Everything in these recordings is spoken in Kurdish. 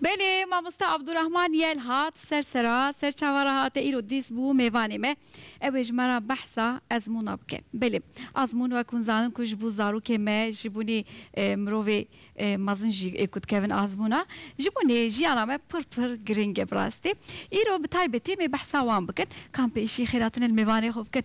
Belê mamosta Abdurahman yel hat ser sera ser çava re hate îro dîs bû mêvanê me ew ê ji me re behsa ezmûna bike. Belê azmûn wek hûn zanin ku ji bo zarokê me ji bo nê mirovê mezin jî ê ku dikevin azmûna ji bo nê jiyana me pir pir giring e bi rastî. Îro bi taybetî em ê behsa wan bikin. Kampê îşî xêratine li mêvanê xwe bikin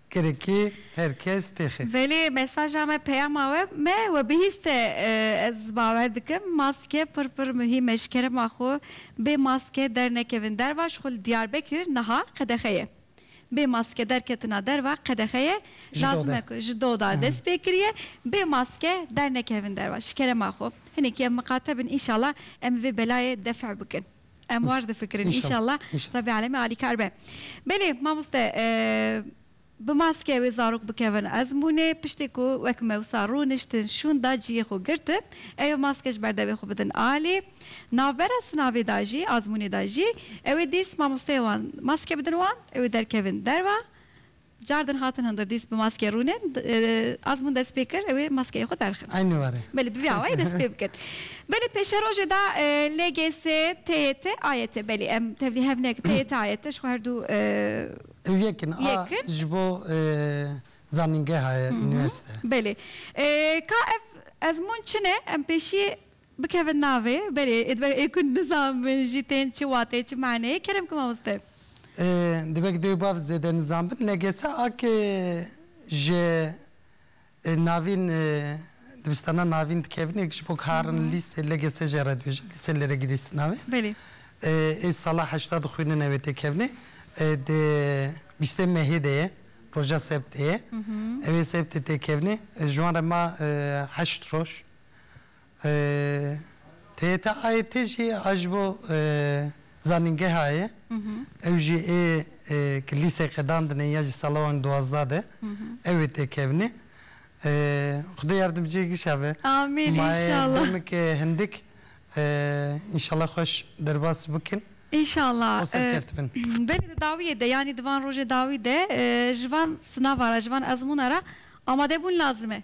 Kirikê her kes têxe. Velê mesaja me peyama we me we bihîste ez bawer dikim maske pir pir muhîm e ji kerema xwe bê maske dernekevin derva ji xwe li Diyarbekir niha qedexe ye bê maske derketina derva qedexe ye lazim e ku ji doda dest pê kiriye bê maske dernekevin derva ji kerema xwe hinekî em miqate bin înşala em vê belayê def bikin. Em war difikirin înşalla Rebî Alemî alîkar be. Belê mamoste bi maske wê zarok bikevin ezmûnê piştê ku wek me wisa rûniştin şûn da ciyê xwe girtin eyo maske ji ber devê xwe bidin alê navbera sinavê da jî azmûnê da jî ewê dîs mamosteyê wan maske bidin wan ewê derkevin derva Car din hatin hindirdîs bi maske rûnin. Azmûn dest pê kir ew ê maskeyê xwe derxin. Eynî warê. Belê bi vî awayê dest pê bikin. Belê pêşerojê de LGS, TYT, AYT belê em tevlî hev nekin TYT, AYT ji xwe her du. Ew yek in a ji bo zanîngeha ye, unîversîte. Belê. Ka ev ezmûn çi ne? Em pêşiyê. Bikevin navê, belê ê dibe ê ku nizanbin jî tên çi wateyê çi maneyê kerem ki mamoste. Ê dibe ki dê û bav zêde nizanbin LGS a ki ji navîn dibistana navîn dikevin ê ki ji bo karin lîstê LGS jê re dibêjin lîstê lê re girî sina wê Belê. ê sala heşta dixwînine wê tê kevnê di bîstê mehê de ye roja sebtê ye ê wê sebtê tê kevnê ji wan re ma heşt roj TETA'yê te jî a ji bo zanîngeha ye. Ew jî ê ku lîseke dandine ya ji sala wan duwazdeh de ew ê tê kevnê. Xwedê yardimciyê gişa be. Amîn înşallah. Mayê demekê hindik înşallah xweş derbas bikin. Înşallah. Û serkevtibin. Belê di dawiyê de yanî di van rojê dawî de ji van sinava re ji van ezmûna re amadebûn lazim e.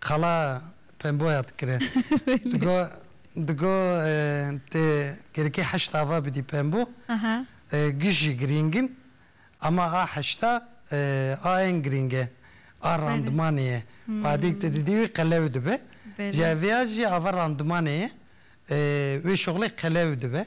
Qala pemboya dikire. Digo digo tê gerikê heşt ava bidî pembo. Gij jî girîng in. Ama a heşta a ên girîng e. A randimanê ye. Fadîk tu didî wî qelew dibe. Ji hev ya jî ava randimanê ye. Wê şoxlê qelew dibe.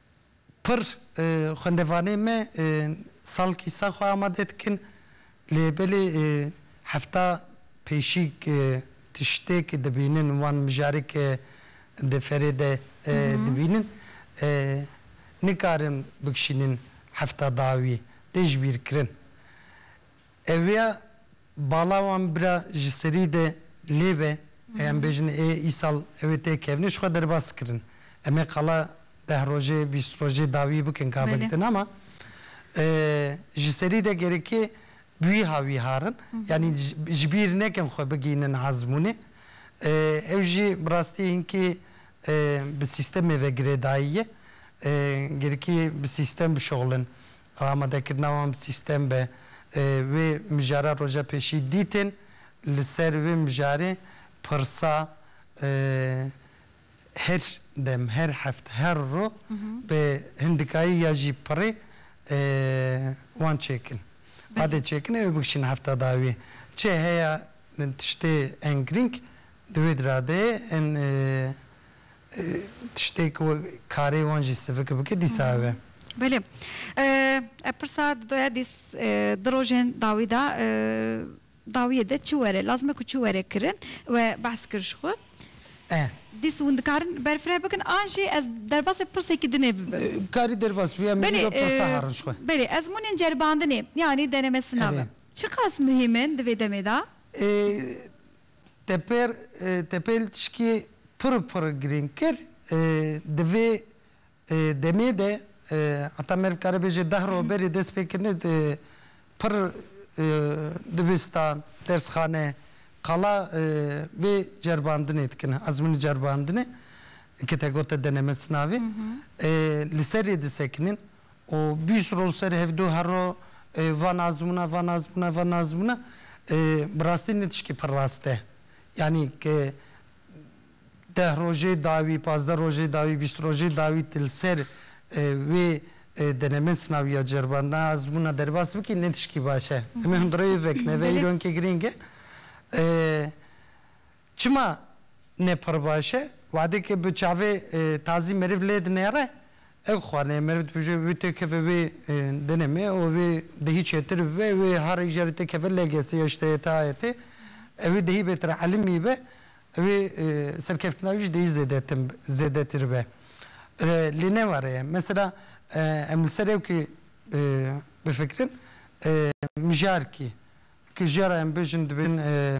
Pir xwendevanê me sal kîsa xwe amade dikin lê belê hefta pêşîg tiştêk dibînin wan mijarek di ferê de dibînin nikarin bikişînin hefta dawî tê jibîrkirin. Ewiya bala wan bira ji serî de lê be, ê em bêjin ê îsal ew ê tê kevnê jixwe derbas kirin. Em ê qala deh rojê, bîst rojê dawî bikin ka bigitin ama ji serî de gerekê bi wîha wî harin. Yanî ji bîr nekin xwe bigihînin ezmûnê. Ew jî bi rastî hinkî bi sîstemê ve girêdayî ye. Gerekî bi sîstem bişuxulin. Amadekirina wan sîstem be. Wê mijara roja pêşî dîtin, li ser wê mijarê pirsa her dem, her heft, her rû bi hindikayî ya jî pirê wan çêkin. Badê çêkinê wê bikişîne hefta dawî. Çi heye tiştê ên girîng di wê diradeyê ên Tiştê ku karê wan jî sivik bike dîsa ev e. Belê. Ev pirsa didoya dîs di rojên dawî de dawiyê de çi were lazim e ku çi were kirin we behs kir ji xwe. Dîs hûn dikarin berfireh bikin an jî ez derbasê pirsekî din ê bibim. Karî derbas bî em li vî de pirsa herin ji xwe. Belê. Ezmûnên ceribandinê yanî denemesina be çiqas muhîm in di vê demê de? Teper Tepel tişkê pir pir girîng kir. Di vê demê de heta meriv kare bêje deh roj berê destpêkirinê pir dibistan, dersxane, qala vê ceribandinê dikin, ezmûnê ceribandinê ke te gote denemez navê, li serê disekinin. û bîst rol ser hevdu her ro van azmûna van azmûna van azmûna bi rastî ne tişkê pir rast e yanî ke deh rojê dawî pazdeh rojê dawî bîst rojê dawî tu li ser wê denemen sinawiya ceribandina azmûna derbas bikî ne tişkî baş e em ê hundireyê vekine ve îro hinkê girîng e Çima ne pir baş e? Wadekê bi çavê tazî meriv lê dinêre, ew xwaniye meriv dibije wê tê keve wê dinêmê û wê dihî çêtir bibe, wê harê jerê tê keve legese ya ji te yê ta yetê, ewê dihî bêtir elimî be, ewê serkeftina wî ji dihî zêdetin zêdetir be. Lê ne were ye. Mesela em li ser ewkê bifikirin, mijarkî, ki jiyara em bêjin dibêjin,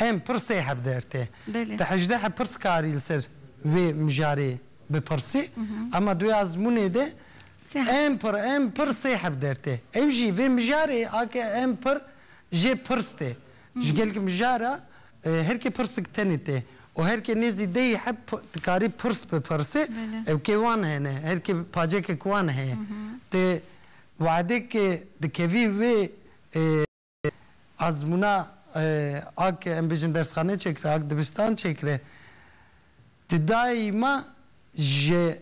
Em pir sê heb der tê. Ti hejdeh pirskarî li ser vê mijarê bipirsî ema duê azmûnê de em pir em pir sê heb der tê. Ew jî vê mijarê ake em pir jê pirs tê. Ji gel ki mijara her kê pirsik tenê tê û her kê nêzî deh heb dikarî pirs bipirsê ew kê wan hene her kê pacekek wan heye. Ti weadêk dikevî wê. azmûna ak em bêjin dersxane çêkire, ak dibistan çêkire di dayî ma ji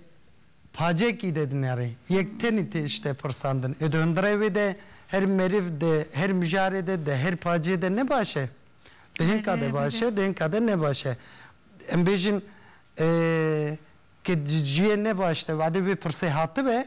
pacekî de dinêrê. Yek tenê tiştê pirsandin. Ê di hundirê wê de her meriv di her mijarê de di her pacê de ne baş e? Di hinka de baş e, di hinka de ne baş e. Em bêjin ke di ciyê ne baş de vadê wê pirsê hatibe,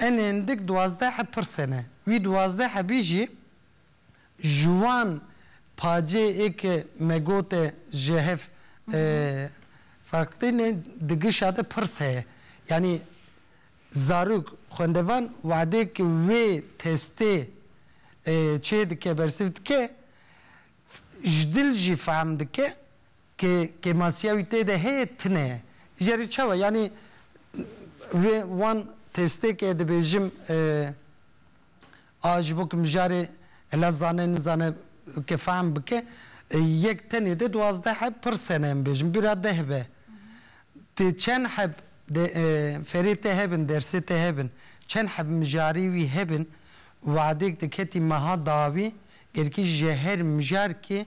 Enên dik duwazdeh pirsê ne. Wî duwazdeh bî jî ji wan pacê ê ke me got e ji hev feqîn e di gişa de pirs heye. Yanî zarok, xwendevan wadê ke wê testê çê dike bersivdike ji dil jî fehm dike Ke kêmasiya wî tê de heye tine jeri çawa yanî vê wan testê ke dibêjim a ji bo ke mijarê hela zane nizane ke fehm bike yek tenê de duwazdeh heb pirr sene em bêjim bira deh be tê çend heb de ferê te hebin dersê te hebin çend heb mijarê wî hebin wadêk diketî meha dawî gerkî ji her mijarkê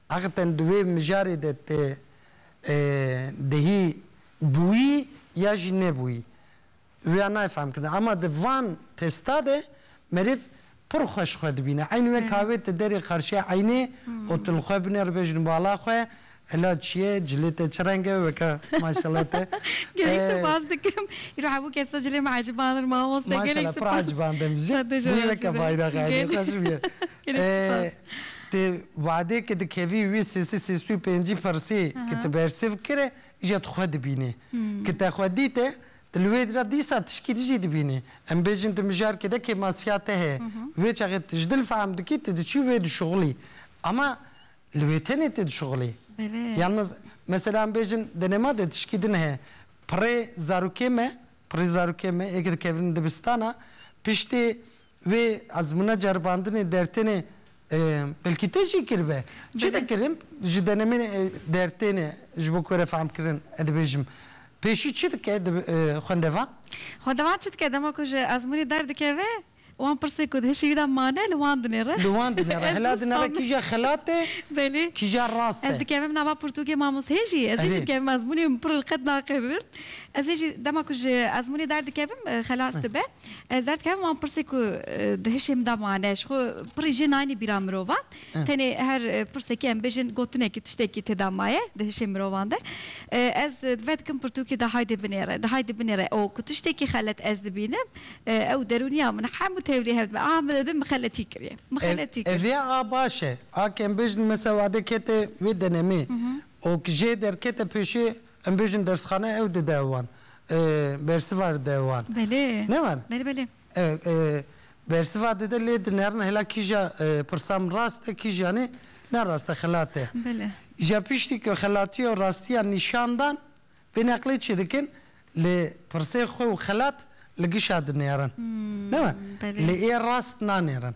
Heqîqeten di wê mijarê de tê dihî bûyî ya jî nebûyî wêya nayê fehmkirin. Ema di van testa de merêv pir xweş xwe dibîne. Eynî wek ka wê ti derê qarşiya eynê û tu li xwe binê re bêjin bala xwe Hela çi ye, cilê te çi reng e weke maşela te. Gelek sipas dikim. Îro hemû kes de cilê min ecibandin mamoste. Gelek sipas. Maşela pir ecibandin. Ji bo weke bayraxa Eynê xweş bûye. Gelek sipas. Ti wadê ke dikevî wî sêsî sêst û pêncî pirsê ke ti bersiv kire îja ti xwe dibînê. Ke te xwe dîte, ti li wê dira dîsa tişkî di jî dibînî. Em bêjin tu mijarkê de kêmasiya te heye. Wê çaxê ti ji dil fehm dikî ti diçî wê dişuxilî. Ama li wê tenê tê dişuxilî. Yan mesela em bêjin denema de tişkî din heye. Pirê zarokê me, pirê zarokê me ê ke dikevin dibistana, piştî Vê ezmûna ceribandinê dertênê belkî te jî kiribe. Çi dikirin ji denemên dertênê ji bo ku were fehmkirin ez dibêjim pêşî çi dike xwendevan? Xwendevan çi dike dema ku ji ezmûnê derdikeve wan pirsê ku di hişê wî de mane li wan dinêre. Li wan dinêre hela dinêre kîja xelat e kîja rast e. Ez dikevim nava pirtûkê mamosteyê jî ez ê jî dikevim ezmûnê min pir li qet naqedin. Ez ê jî dema ku ji ezmûnê derdikevim xelas dibe. Ez derdikem wan pirsê ku di hişê min de mane, ji xwe pirî jê nayêne bîra mirovan. Tenê her pirsekî em bêjin gotinekî, tiştekî têda maye di hişê mirovan de. Ez ve dikim pirtûkê de haydê binêre, di haydê binêre û ku tiştekî xelet ez dibînim, ew derûniya min hemû tevlî hev dibe. Aha min didim min xeletî kiriye, min xeletî kir. Ev ya a baş e. A ke em bêjin mesela wade kete wê denemê û jê derkete pêşê Em bêjin dersxane ew dide wan. Bersiva dide wan. Belê. Ne wan? Belê belê. Bersiva dide lê di nerin hela kîja pirsa min rast e kîja nê ne rast e xelat e. Belê. Îja piştî ku xelatiya û rastiya nîşan dan vê neqlê çê dikin lê pirsê xwe û xelat li gişa dinêrin. Ne wan? Belê. Lê ê rast nanêrin.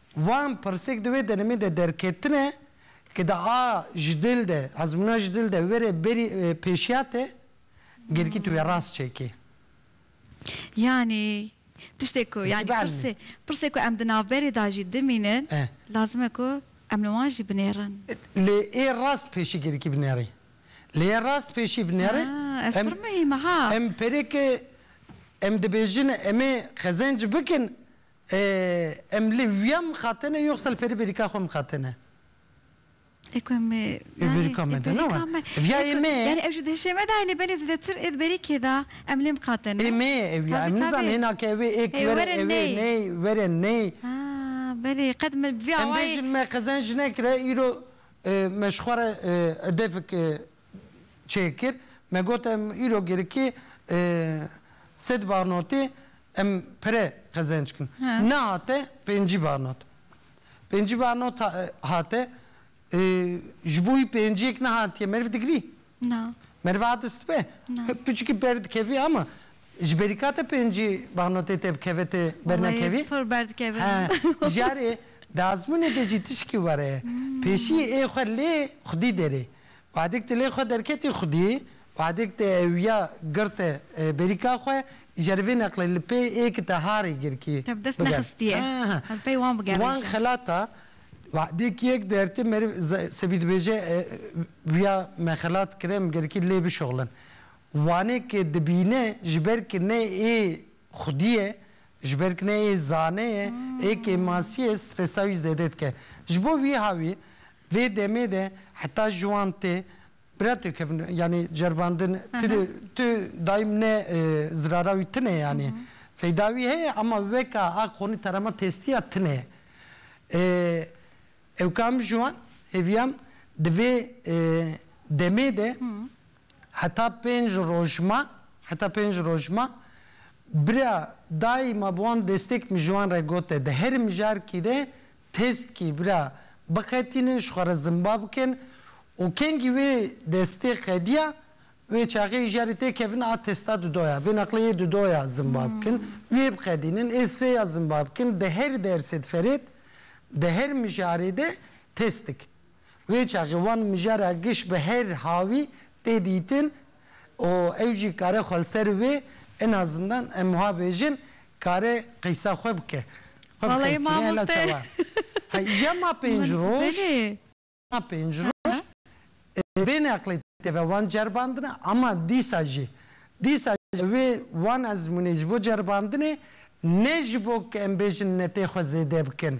Wan pirsek di wê denemê de derketine ke di a ji dil de, ezmûna ji dil de were berî pêşiya te, gelkî tu wê rast çekî. Yanî tiştê ku yanî pirsê pirsê ku em di navberê de jî dimînin lazim e ku em li wan jî binêrin. Lê ê rast pêşî gelkî binêrî. Lê ê rast pêşî binêrî. Ah ev pir muhîm e ha. Em perê ke em dibêjin em ê qezenc bikin Em li wiya mixatene yox sal peri berika xwe mixatene. Eko em ê Ê berika me de ne we. Viya ê me ye. Yani ew ji dihişê me de ye lê belê zêdetir ê di berîkê de em lê mixatene. Ê me ye ew ya. Em nizane hêna ke ew ê êk were ew ê ney were ney. Ha belê qet me bi vî awayê. Em bêjin me qezenc nekire îro me ji xwe re hedefek çêkir, me got em îro girikê sed barnotê em pire qezenc kin. Nehate pêncî barnot. Pêncî barnot hate, ji bo wî pênciyek nehatiye meriv digirî? Na. Meriv hate stipê? Na. Piçikî ber dikevî ama ji berîka te pêncî barnotê te bikeve te bernekevî? Wallahî pir berdikeve. He, jarê di ezmûnê de jî tişkî were ye. Pêşiyê ê xwe lê xwedî derê. Badik tilê xwe derketî xwedî, Badik tê ewîya girte berîka xwe, îjer vê neqlê li pê ê ki te harê girkî Te dest bigere. nexistiye. Li pey wan bigere Wan îşe. xelata, Badik yek dertê meriv sebî dibêje vîya me xelat kir em girkî lê bişuxlin. Wanê ki dibîne ji ber ki ne ê xwedî ye, ji ber ki ne ê zane ye, ê kêmasî ye, stresa wî zêde dike. Ji bo vî havî Vê demê de heta ji wan tê birato kevin yanî ceribandin tu tu dayim ne zirara wî tune yanî feyda wî heye ema weka a qonî terema testiya tune ye. Ew ka min ji wan hêviyam di vê demê de heta pênc roj ma heta pênc roj ma bira dayima bi wan destêk min ji wan re gote di her mijarkî de Têstkî bira biqetînin ji xwe re zimba bikin û kengî wê destê qediya wê çaxê îja rê tê kevin a têsta dudo ya vê neqlê yê dudo ya zimba bikin wê biqedînin ê sê ya zimba bikin di her dersê diferêt di her mijarê de têst dikin. Wê çaxê wan mijara giş bi her hawî tê dîtin û ew jî kare xwe li ser wê ina zindan em wiha bêjin kare qîsa xwe bike. Xwe bi Vallahi xêsînê hela mamoste. çawa. Hey îja ma pênc roj, Belê. ma pênc roj vê neqlê tê ve wan ceribandine ama dîsa jî dîsa jî wê wan ezmûnê ji bo ceribandinê ne ji bo ku em bêjin netê xwe zêde bikin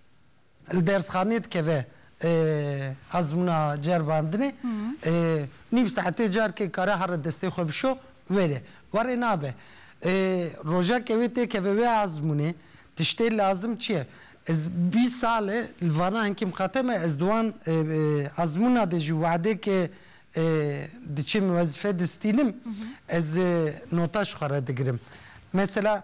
li dersxaneyê dikeve ezmûna ceribandinê nîv saetê careke dikare here destê xwe bişo were warê nabe rojeke wê tê keve wê ezmûnê tiştê lazim çi ye ez bîst sal e li vana hinkî miqate me ez di wan ezmûna de jî wedekê diçim wezîfe distînim ez nota ji xwe re digirim mesela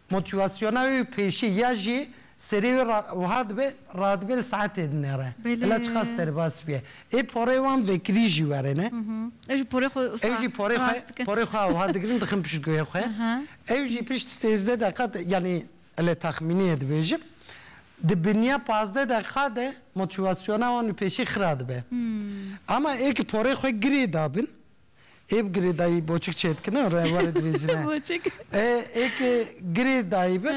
Motivasyona wê pêşî ya jî serê wê re wiha dibe, radibe li saetê din e re. Hela çi qas derbas bûye. Ê porê wan vekirî jî were ne. Ew jî porê xwe wisa rast dikin. Ew jî porê xwe, porê xwe wiha digirin dixin pişt guhê xwe. Ew jî pişt sêzdeh deqiqa de yanî ele taxmîniyê dibêjim, di biniya pazdeh deqiqa de motivasyona wan wê pêşî xira dibe. Ama ê ki porê xwe girê dabin, Ê bi girê dayî boçik çêdikine û re were dirêjine. Boçik. Ê ê ke girê dayî be,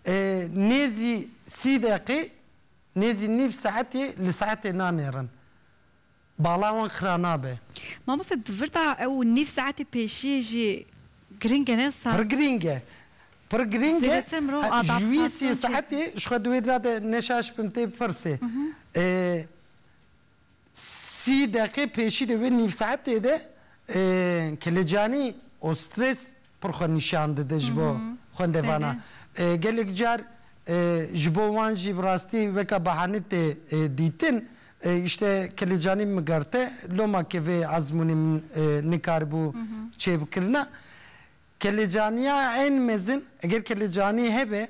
ê nêzî sî deqê, nêzî nîv saetê li saetê nanêrin. Bala wan xira nabe. Mamoste di vir de ew nîv saetê pêşiyê jî girîng e ne sa. Pir girîng e. Pir girîng e. Zêdetir mirov adaptasyon çêdikin. Ji wî sî saetê ji xwe di wê dira de neşaş bim tê bipirsê. Ê. Sî deqê pêşî di wê nîv saetê de Kilicanî û strês pir xwe nîşan dide ji bo xwendevana. Gelek car ji bo wan jî bi rastî weke bahane tê dîtin. Îşte Kilicanî migerte loma ke vê ezmûnê min nikaribû çêbikirina. Kilicanîya ên mezin eger Kilicanî hebe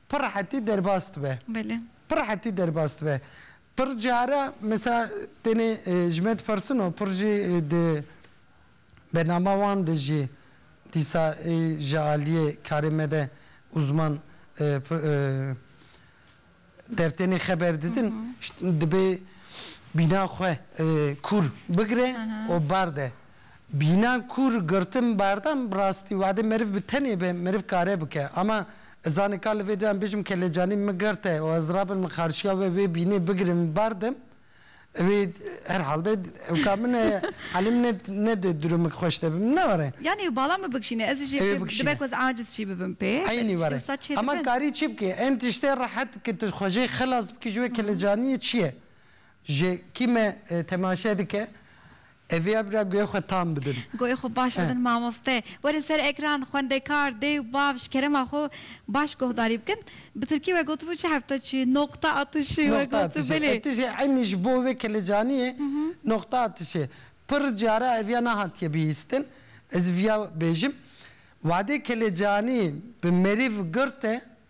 Pir rehetî derbas dibe. Belê. Pir rehetî derbas dibe. Pir care mesela tenê ji me dipersin û pir jî di bernama wan de jî dîsa ê ji aliyê karê me de uzman der tenê xeber didin dibê bîna xwe kûr bigire û barde. Bînan kûr girtin berdan bi rastî wadê meriv bi tenê be meriv kare bike ama ez zanê ka li vê doyan bêjim kelecanî min girte û ez rabin min xarşiya we wê bînê bigirim û bardim wê her halde ew ka min e halê min e ne di durumik xweş de bim ne were. Yanî ew bala min bikişîne ez jî Ew bikişîne. dibe ku ez aciz jî bibim pê Eynî were wisa çê ama dibin. karî çi bikê en tiştê rehet ke tu xwe jê xilas bikî ji wê kelecaniyê çi ye? Ji kî me temaşe dike Evîya bira guhê xwe tam bidin. Guhê xwe baş bidin mamoste. Werin ser ekran xwendekar, dê û bav ji kerema xwe baş guhdarî bikin. Bi tirkî we gotibû çi hefta çû yê noqta atişê we gotu belê. Noqta atişê e eynî ji bo wê kelecanî yê noqta atişê. Pir cara evîya nehatiye bihîstin. Ez vîya bêjim. Wadê kelecanî bi merîv girt e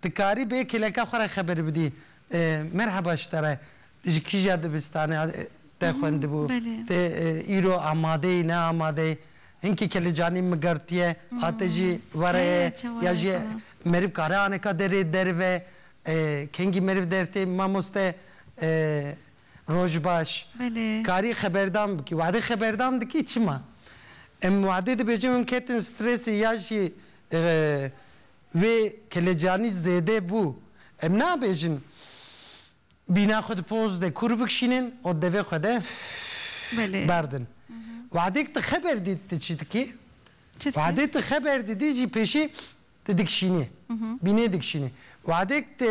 Ti karî bê kêleka xwe re xeber bidî. Merheba ji te re. Ti ji kîja dibistanê te xwendibû? Ti îro amade yî, ne amade yî? Hinkî kelecanî migertiye, hate jî were ye ya jî meriv kare aneka derê derve? Kengî meriv dertê mamoste rojbaş. Karî xeberdan bikî. Wade xeberdan dikî çima? Em wade dibêjin hûn ketin stresê ya jî Wê kelecanî zêde bû. Em nabêjin bîna xwe di poz de kûr bikişînin û devê xwe de berdin. Wehdêk tu xeber dît tu çi dikî, wehdê tu xeber didî jî pêşî tu dikişînî, bînê dikişînî. Wehdêk tu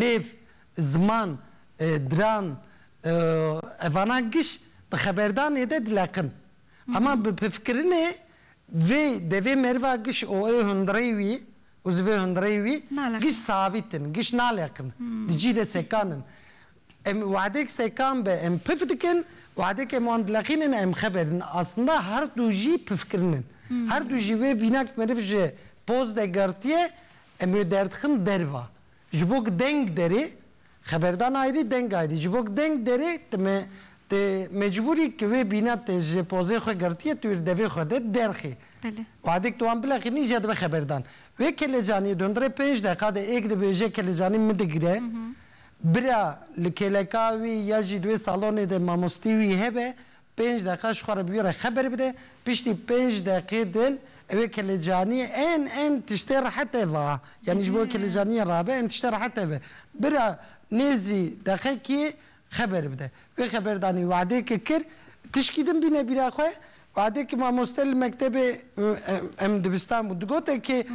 lêv, ziman, diran evana giş di xeberdanê de dileqin. Ema bi pifkirinê vê devê meriva giş û ê hundirey wî û zivê hundirey wî giş sabît in, giş naleqin, di cî de sekan in. Em wahedek sekan be em pif dikin, wahedek em wan dileqînin em xeber in. Aslında her du jî pifkirin in. Her du jî wê bîna ku meriv ji poz de girtiye Em wê derdixin derva. Ji bo ku deng derê, xeberdan ayrî, deng ayrî. Ji bo ku deng derê, tu me tu mecbûr î ku wê bîna tu ji pozê xwe girtiye, tu wê li devê xwe de derxî. Wexdê ku tu wan bileqînî jê dibe xeberdan. Wê kelecaniyê dondirê pênc deqa de ê ku dibêje kelecanî min digire, bira li kêleka wî ya jî di wê salonê de mamostî wî hebe, Pênc deqiqa ji xwe re bi wî re xeber bide, piştî pênc deqiqê din ew ê kilicaniyê ên ên tiştê rehete va. Yanî ji bo kilicaniyê rabe ên tiştê rehete ve. Bira nêzî deqiqê xeber bide. Wê xeber danî wa'dêke kir, tişkî din bîne bîra xwe, wa'dêke mamoste li mektebê em dibistan bû digote kê,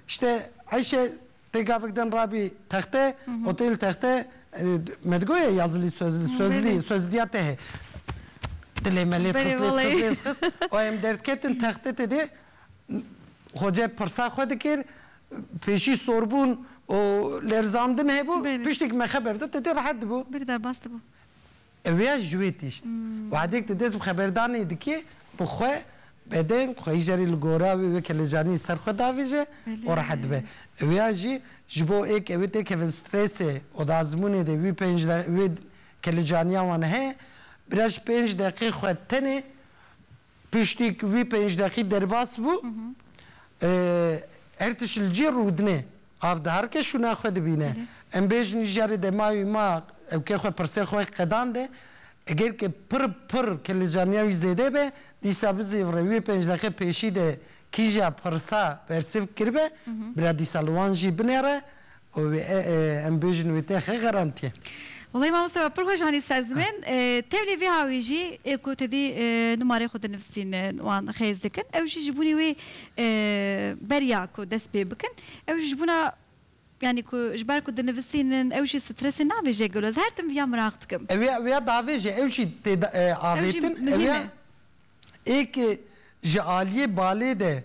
îşte eyşe Tê gavik din rabî texte û tê li texte me digoye ya zilî soz li soz lî soz lîya te hê. Dilê me lêt xist lêt xist lêt xist û em derdiketin texte te dê xoce pirsa xwe dikir pêşî sorbûn û lêrzandin hebû piştî ku me xeber da te dê rehet dibû. Bir derbas dibû. Ew ya ji wê tişt. Wehdek di dest bi xeberdanê dike bi xwe, bedeng, xweyî jî erê li gora wê weke li caniyê ser xwe davêje û rehet dibe. Ew ya jî ji bo ê ke wê tê kevin stresê û di azmûnê de wî pênc wê ke li caniya wan heye, biraz pênc deqê xwe tenê Piştî ku wî pênc deqî derbas bû, Ertiş li cî rûdine, av diharike şûna xwe dibîne. Em bêjin ji jarê demawî ma ewkê xwe pirsê xwe qedande, eger ke pir pir kelecaniya wî zêde be, dîsa bizêvire wê pênc deqe pêşî de kîja pirsa bersiv kiribe, bira dîsa li wan jî binêre û wê em bêjin wê tê xê xerantiye. Walayi mamosta we pir xweş anî ser zimên. Tevlî vî hawî jî ê ku te dî numareyê xwe dinivisîn wan xêz dikin. Ew jî ji bûnê wê beriya ku dest pê bikin. Ew jî ji bûna yanî ku ji ber ku dinivisînin ew jî stresê navêje gelo. Ez her tim viya miraq dikim. Ew ya ew ya davêje. Ew jî tê de avêtin. Ew jî muhîm e. Êkê ji aliyê balê de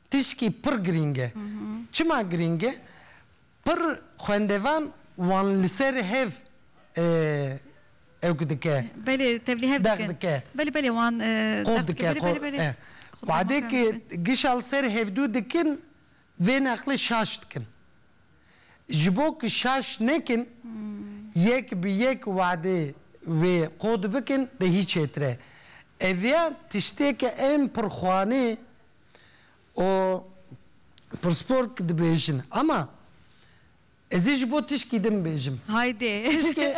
Tişkî pir girîng e. Çima girîng e? Pir xwendevan wan li ser hev ewk dike. Belê, tevlî hev dikin. Dex dike. Belê, belê wan dex dike. Qo dike, qo. Wadekê gişa li ser hevdû dikin, vê neqlê şaş dikin. Ji bo ku şaş nekin, yek bi yek wadê wê qo dibikin, dê hî çêtir e. Ev ya tiştê ke em pirxwanê. û pirsgorg dibêjin ama ez ê ji bo tişkî din bêjim. Haydê,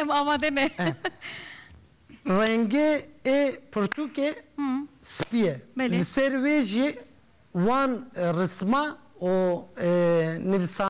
em amade ne. Rengê ê pirtûkê spî ye. Li ser wê jî wan risma û nivîsandina.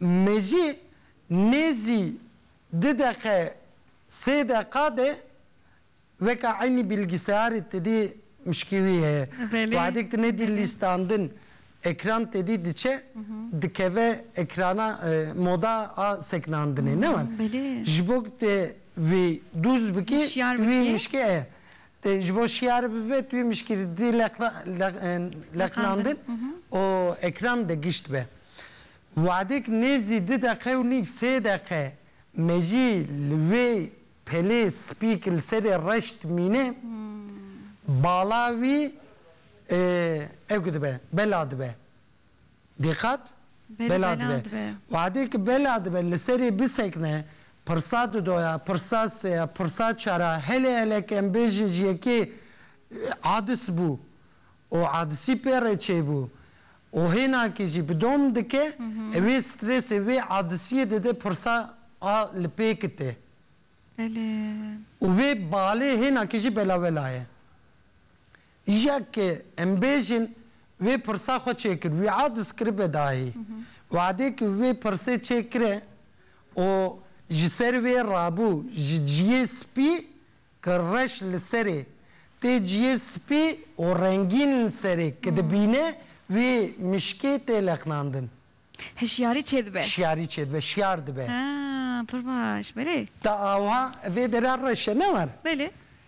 Mejî nêzî du deqe sê deqa de weka eynî bîlgîseyarê tedî mişkî wî heye. Wexdek tu nedî lîstandin ekran tedî diçe dikeve ekrana moda a sekinandinê ne wan. Ji bo ku tu wî dûz bikî wî mişkê heye. Ji bo şiyar bibe tu yê mişkîlîtî leqnandin û ekran de gişt be. Wadek nêzî du deqe û nîv sê deqe me jî li wê pelê spî ku li serê reş dimîne bala wî ew dibe, bela dibe. Diqat, bela dibe. Wadê ki bela dibe li serê bisekne, pirsa du doya, pirsa se ya, pirsa çar a, helê helek em bêjin ji yekê adis bû û adisî pê re çêbû û hêna kê jî bi dom dike, ev ê strêsê wê adisiyê dide pirsa a li pê kite. Û vê balê hêna kê jî belawela ye. Yek e, em bêjin, wê pirsa xwe çêkir, wi'a diskiribe dayê. We'dê ku wê pirsê çêkire û ji ser wê rabû ji ciyê spî ku reş li serê tê ciyê spî û rengîn li serê ku dibîne wê mişkê tê lexnandin. Hişyarî çêdibe. Hişyarî çêdibe, şiyar dibe. Ha, pir baş, belê. Ta awha vê dere reş e, ne war? Belê.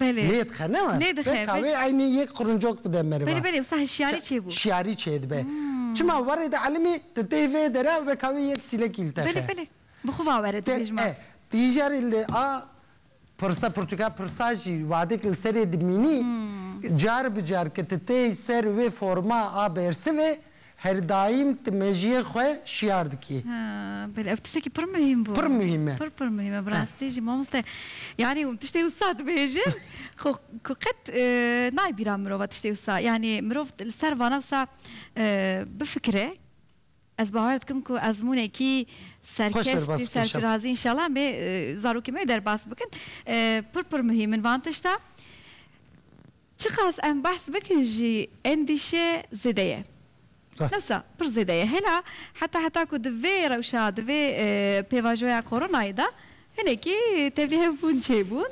Belê. Lê dixe ne wan. Lê dixe, belê. Beka wê eynî yek qirincok bide meriva. Belê belê wisa hişyarî çê bû. Hişyarî çê dibe. Çima warê de elimî di tey vê de re weka wê yek sîlek îltexe. Belê belê. Bi xwe vawere dibêj ma. Te e. Ti îjarê li a pirsa pirtûka pirsa jî wadek li serê dimînî car bi car ke ti tey ser wê forma a bersivê Her daîm tu mejiyên xwe şiyar dikî. Belê ev tiştekî pir muhîm bû. Pir muhîm e. Pir pir muhîm e bi rastî jî mamoste yanî tiştê wisa dibêjin xwe ku qet nayê bîra mirova tiştê wisa yanî mirov li ser vana wisa bifikire ez bawer dikim ku ezmûnekî serkeftî serfirazî înşellah em ê zarokên me derbas bikin pir pir muhîm in van tişta. Çiqas em behs bikin jî endîşe zêde ye. Dewsa pir zêde ye. Hêna heta heta ku di vê rewşa, di vê pêvajoya koronayê de hinekî tevlî hevbûn çêbûn.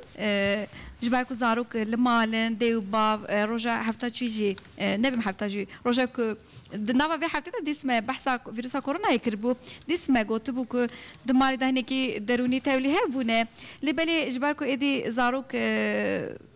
Ji ber ku zarok li mal in, dê û bav roja hefta çûyî jî nebim hefta jî roja ku di nava vê heftê de dîs me behsa vîrûsa koronayê kiribû. Dîs me gotibû ku di malê de hinekî derûnî tevlî hevbûne. Lê belê ji ber ku êdî zarok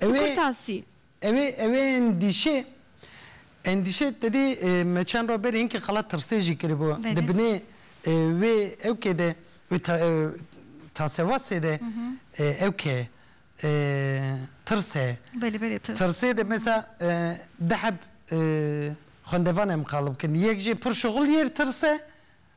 Kurtasî. Ew ê ew ê endîşe endîşe tedê me çend roj berê hinkî qala tirsê jî kiribû. Di binê wê ew kê de wê tasewasê de ew ke tirs e. Belê belê tirs. Tirsê de mesela di heb xwendevan em qalib kirin. Yek jê pir şixul yê tirs e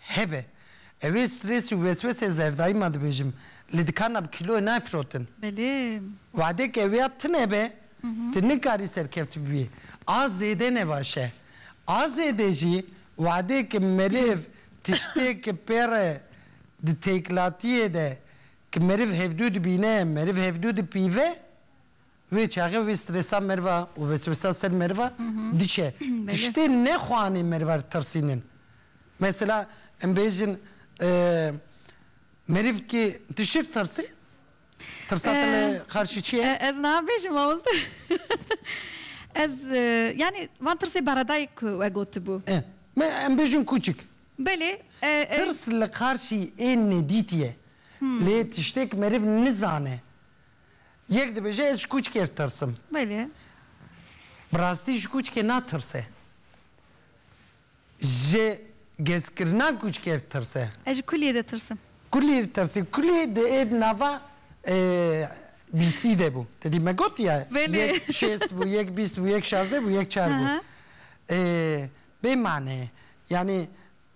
Hebe. Ew ê strês û weswesê zerdayî ma dibêjim, li dikana bi kîloyê nayê firotin. Belê. Wadek ew ya tune be, tu nikarî serkevtî bibî. A zêde ne baş e. A zêde jî wadek ki meriv tiştêk pê re di têkilatiyê de ki meriv hevdû dibîne, meriv hevdû dipîve, Wê çaxê wê stresa meriva û weswesa ser meriva diçe. Tiştê nexwanê meriva li tirsînin. Mesela em bêjin meriv ki tu çi li tirsî? Tirsa te li qarşî çi ye? Ez niha bêjim mamoste. Ez yanî van tirsê beredayî ku we gotibû. Em bêjin kûçik. Belê. Tirs li qarşî ên nedîtî ye. Lê tiştêk meriv nizane Yek dibêje ez ji kûçkê tirsim. Belê. Bi rastî ji kûçkê natirse. Ji gezkirina kûçkê re tirse. Ez ji kulîyê de tirsim. Kulîyê re tirsî. Kulî di ê di nava bîstî de bû. Te dî me gotiye yek şêst bû, yek bîst bû, yek şazdeh bû, yek çar bû. Bê mane ye. Yanî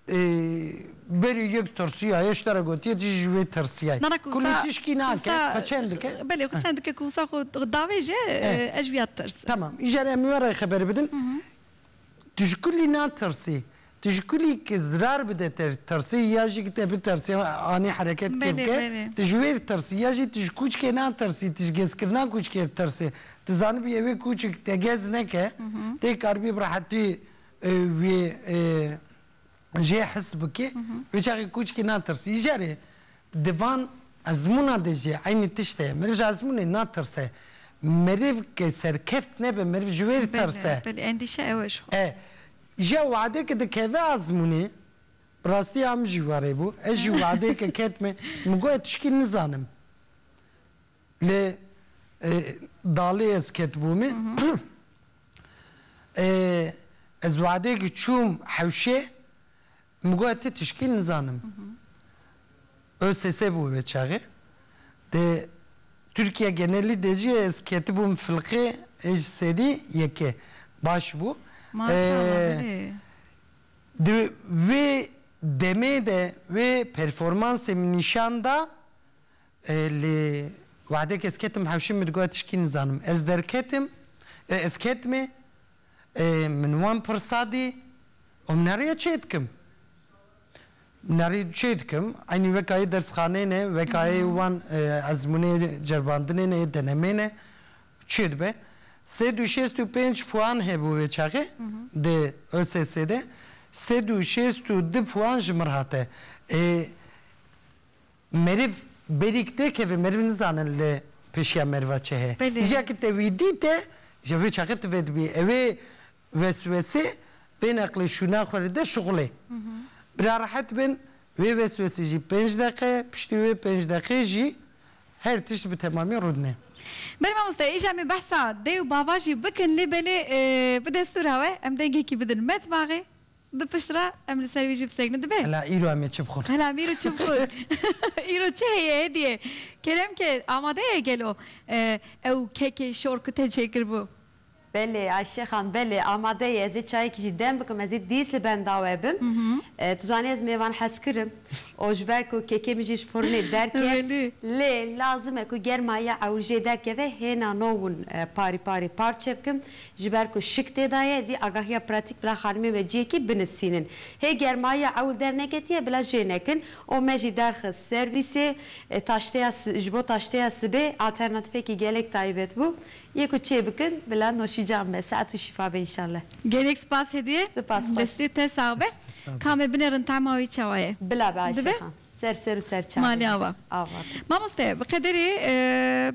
Ê berî yek tirsiya ye, ji te re gotiye tu jî ji wê tirsiya ye. Ku lê tişkî nake, xwe çend dike. Belê xwe çend dike ku wisa xwe davêje ez ji wî ya ditirsim. Temam, îcar em were xeber bidin. Tu ji kulî natirsî, tu ji kulî ku zirar bide te tirsî ya jî ku te bitirsî anî hereket kê bike tu ji wê re tirsî ya jî tu ji kûçikê natirsî, tu ji gezkirina kûçikê ditirsî. Tu zanibûye wê kûçik te gez neke tê karibî bi rehetî Wê jê his bike wê çaxê kûçikê natirsî. Ji jarê di van ezmûna de jî eynî tişt heye. Meriv ji ezmûnê natirse. Meriv ke serkeft nebe meriv ji wê ditirse. Belê belê endîşe ew e ji xwe. E Ji wade ke dikeve ezmûnê bi rastî em jî warê bû. Ez jî wadeyeke ketime min got ez tişkî nizanim. Lê dalê ez ketibûme ez wade ki çûm hewşê min got ti tişkî nizanim. OSSE bû wê çaxê. Dê Tirkiye genelî de jî ez ketibûm filqê ê ji sedî yekê. Baş bû. Di wê demê de wê performansê min nîşan da Lê wexdek ez ketim hewşê min digot tişkî nizanim. Ez derketim, ez ketime, min wan pirsa dî û min heriya çê dikim. Min herî çê dikim, eynî weka yê dersxaneyê ne, weka yê wan ezmûnê ceribandinê ne, yê denemê ne çê dibe. Sed û şêst û pênc puan hebû wê çaxê di ÖSS'ê de, sed û şêst û du puan ji min hate. Ê. Meriv berîk tê kevê meriv nizanin li pêşiya meriva çi heye. Jîya ki te wî dîte ji vê çaxê tu vedibî ewê weswesê bên eqlê şûna xwe li de şixulê. Bira rehet bin wê weswesê jî pênc deqe piştî wê pênc deqê jî her tişt bi temamî rûdine. Belê mamoste îja me behsa dê û bava jî bikin lê belê bi destûra we em dengekî bidin metbaxê Di pişt re em li ser wî jî bisekinin dibe. Hela îro em ê çi bixwin? Hela mîr û çi bixwin? Îro çi heye hêdiyê? Kerem ke amade ye gelo ew kekê şor ku te çêkiribû? Belê Ayşe xan belê amade ye. Ez ê çayekî jî dem bikim, ez ê dîs li benda we bim. Tu zanî ez mêvan hez kirim û ji ber ku kekê min jî ji furnê derket lê lazim e ku germa ya ewil jê derkeve hêna no hûn parî parî parçe bikim. Ji ber ku şik tê da ye, vî agahiya pratîk bila xanimên ve ciyekî binivsînin. Hê germayiya ewil derneketiye bila jê nekin û me jî derxist ser wî sê taşteya ji bo taşteya sibê alternatifekî gelek taybet bû. Yê ku çê bikin bila noşîcan be. Sehet û şîfa be înşallah. Gelek spas hediye. Spas xweş. Destê te sax be. Kamê binêrin tahma wî çawa ye. Bila be Ayşe xan. Ser ser û ser çavê be. Malê ava. Ava be. Mamoste bi qederê.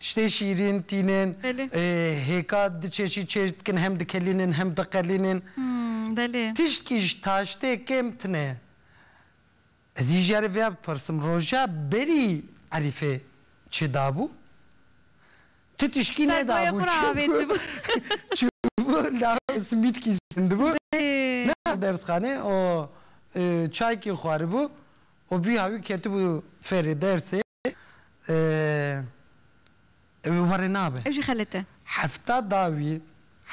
Tiştê şîrîn, tînên Belê. hêka du çeşî çêj dikin, hem dikelînin hem diqelînin. Him, belê. Tiştkî ji taştê kêm tine. Ez î jî vêya bipirsim, roja berî Erîfê çi dabû? Tu tiştkî Ser nedabû. boya xwe re avêtibû. Çûbû lawê simîtkî sindibû. Belê. Nexwe dersxanê û çaykî xwaribû û bî hawî ketibû ferê dersê. ew ê warê nabe. Ew jî xelet e. Hefta dawî,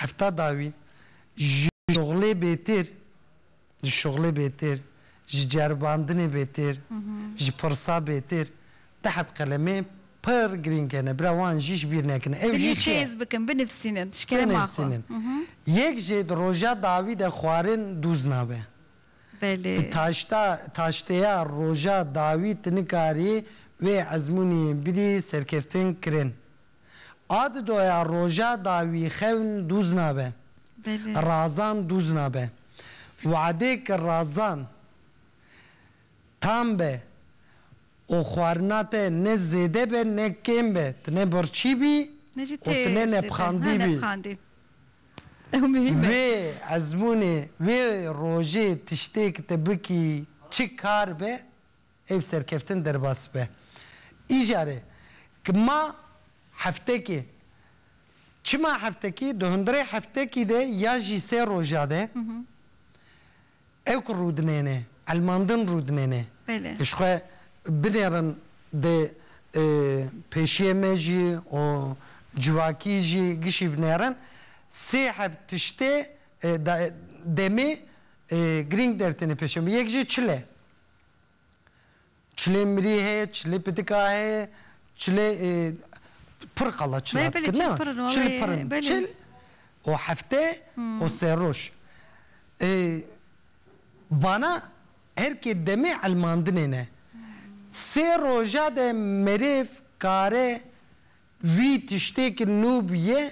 hefta dawî ji şoxlê bêtir, ji şoxlê bêtir, ji ceribandinê bêtir, ji pirsa bêtir tehet qelemê pir girîng hene. Bira wan jî ji bîr nekin. Ew jî çi ye? Binêxêz bikin, binivîsînin ji kerema xwe. Binivîsînin. Yek jê di roja dawî de xwarin dûz nabe. Belê. Bi taşta taşteya roja dawî tu nikarî wê ezmûnî bidî serkeftin kirin. A di doya roja dawî xewn dûz nabe. Belê. Razan dûz nabe. Weadê ke razan tam be û xwarina te ne zêde be ne kêm be, tu ne birçî bî Ne jî û tê tu ne zêde. Ha nepxandî bî. nepxandî. Ew muhîm e. Wê ezmûnê wê rojê tiştêk te bikî çi kar be ê bi serkeftin derbas be. Îjare ki ma heftekê çima heftekî di hundirê heftekî de ya jî sê roja de Ew ku rûdinêne, elmandin rûdinêne. Belê. Ji xwe binêrin dê pêşiyê me jî û civakî jî gişî binêrin. Sê heb tiştê demê girîng dertêne pêşê me. Yek jî çile. Çilê mirî heye, çilê pitika heye, çilê pir qala çil hat kirin na, çil pir in. Çil û hefte û sê roj. Vana her kê demê elmandinê ne. Sê roja de merêv kare vî tiştê ki nû bûye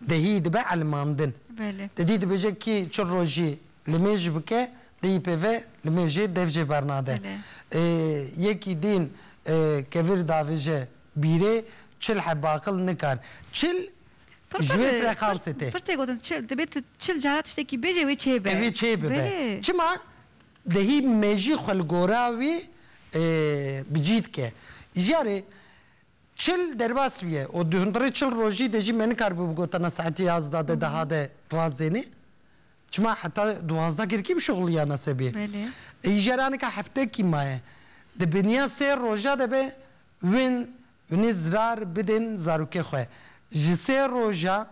Dehî dibe elimandin. Di dî dibêje kî çil rojî li mêj bike dehî pêve li mêjê dev jê bernade. Yekî dîn kevir davêje bîrê çil heb aqil nikar. Çil ji wê freqansê tê. Pir tê gotin çil dibê tu çil cara tiştekî bêjê wê çêbe. Wê çêbibe. Çima dehî mêjî xwe li gora wî bi cî dike. Ji yarê. Çil derbas bûye û di hundirê çil rojî de jî me nikaribû bi gotana saetê yazdeh de deha de razênê. Çima heta duwazdeh girkî bişuxuliyana se bê. Îjara nika heftekî maye. Di biniya sê roja de be win winê zirar bidên zarokê xwe. Ji sê roja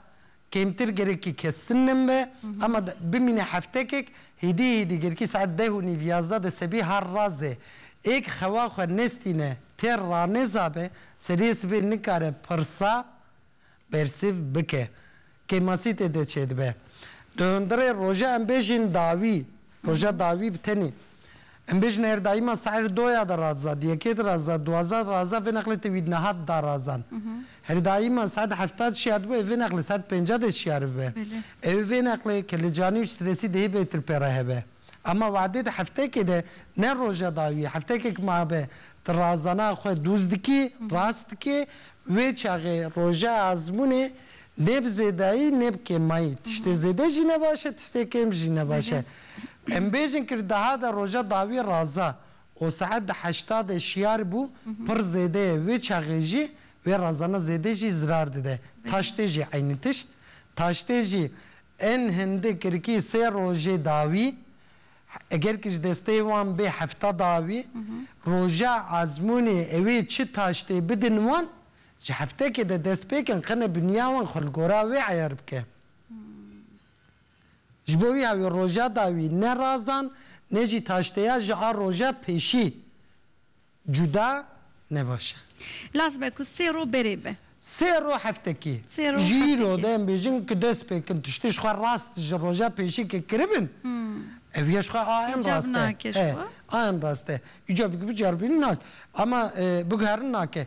Kêmtir gerekî kestin nin be ema bimîne heftekek hîdî hîdî gerekî saet deh û nîv yazda de sebî har razê êk xewa xwe nestîne têr ranêza be seriyê sibê nikare pirsa bersîv bike kêmasî tê de çêdibe. Di hundirê roje em bêjîn dawî Roja dawî bi tenê. Em bêjin her daîma saîr doya de raza, diyekê de raza, duwaza raza vê neqlê te wî nihat da razan. Her daîma saet hefta de şiyar dibe ev vê neqlê saet pênca de şiyar bibe. Ew ê vê neqlê kelecanî û strêsî dihê bêtir pê re hebe. Ema wadê de heftekê de ne roja dawî heftekê ki mabe ti razana xwe dûz dikî, rast dikî, wê çaxê roja azmûnê Nê bi zêdayî nê bi kêmayî. Tiştê zêde jî ne baş e, tiştê kêm jî ne baş e. Em bêjin kir deha de roja dawî raza û saet di heşta de şiyar bû pir zêde ye. Wê çaxê jî wê razana zêde jî zirar dide. Taştê jî eynî tişt. Taştê jî ên hindi kirkî sê rojê dawî eger ki ji desteyê wan bê hefta dawî. Roja ezmûnê ewê çi taştê bidin wan Ji heftekê de dest pê kin qine binya wan xwe li gora wê eyar bike. Ji bo wiha wê roja da wî ne razan ne jî taşteya ji a roja pêşî cuda ne baş e. Laz be ku sê roj berê be. Sê roj heftekê. Sê roj heftekê. Ji îro de em bêjin ku dest pê kin tiştê ji xwe rast ji roja pêşî ke kiribin ew ya ji xwe a en rast e. Hicab nake ji xwe. A en rast e. Hicabê ku biceribînin nake. Ama biguherin nake.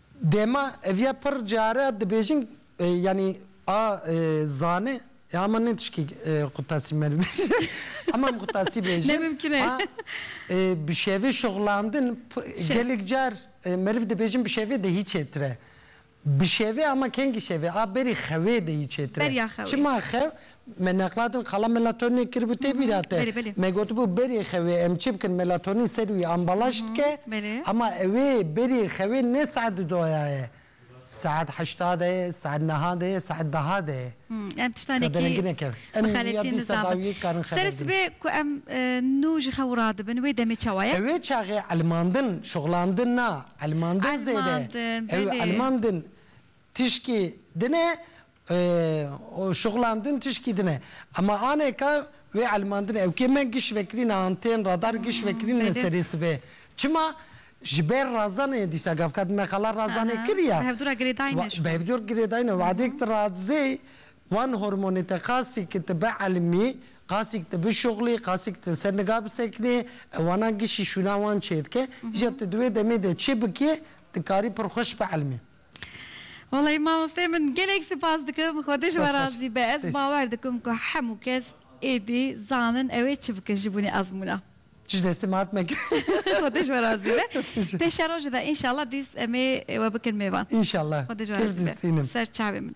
Dema ev ya pir care dibêjin yanî a zane ya hema ne tişkî qutasî me dibêje hema em qutasî bêjin a bi şevê şixulandin gelek car meriv dibêjin bi şevê de hî çêtir e. Bi şevê hema kengî şevê a berî xewê de hî çêtir e. Çima xew? Me nexladin qala melatoninê kiribû tê bîra te. Me gotibû berê xewê em çi bikin melatonin ser wî ambalaj dike ema ewê berê xewê ne saet di doya ye saet heşta de ye saet niha de ye saet diha de ye. Em tiştanekî bi derengî nekevin. Em ya dî sedawiyê dikarin xeber bidin. Serê sibê ku em nû ji xew radibin wê demê çawa ye? Ewê çaxê elmandin, şixulandin na, elmandin zêde. Elmandin belê. Ew elmandin tişkî din e Û şixulandin tişkî din e. Ema anêka wê elmandin ew kê me giş vekirîne antên radar giş vekirîne serê sibê. Çima? Ji ber razanê dîsa gavkad me qala razanê kiriya. Bi hevdûra girêdayîne şû. Bi hevdûr girêdayîne wadêk ti razê wan hormonê te qasî ki ti bielmî, qasî ki ti bişuxlî, qasî ki ti li ser niga bisekinî ewana gişî şûna wan çêdike. Îja tu di wê demê de çi bikî dikarî pir xweş bielmî. Walayi mamosteyê min gelek sipas dikim xwe tu ji we razî be ez bawer dikim ku hemû kes êdî zanin ew ê çi bikin ji bûnê ezmûna. Ji destê min hat mekir. Xwe tu ji we razî be. Pêşerojê de înşallah dîs em ê we bikin mêvan. Înşallah. Xwe tu ji we razî be. Ser çavê min.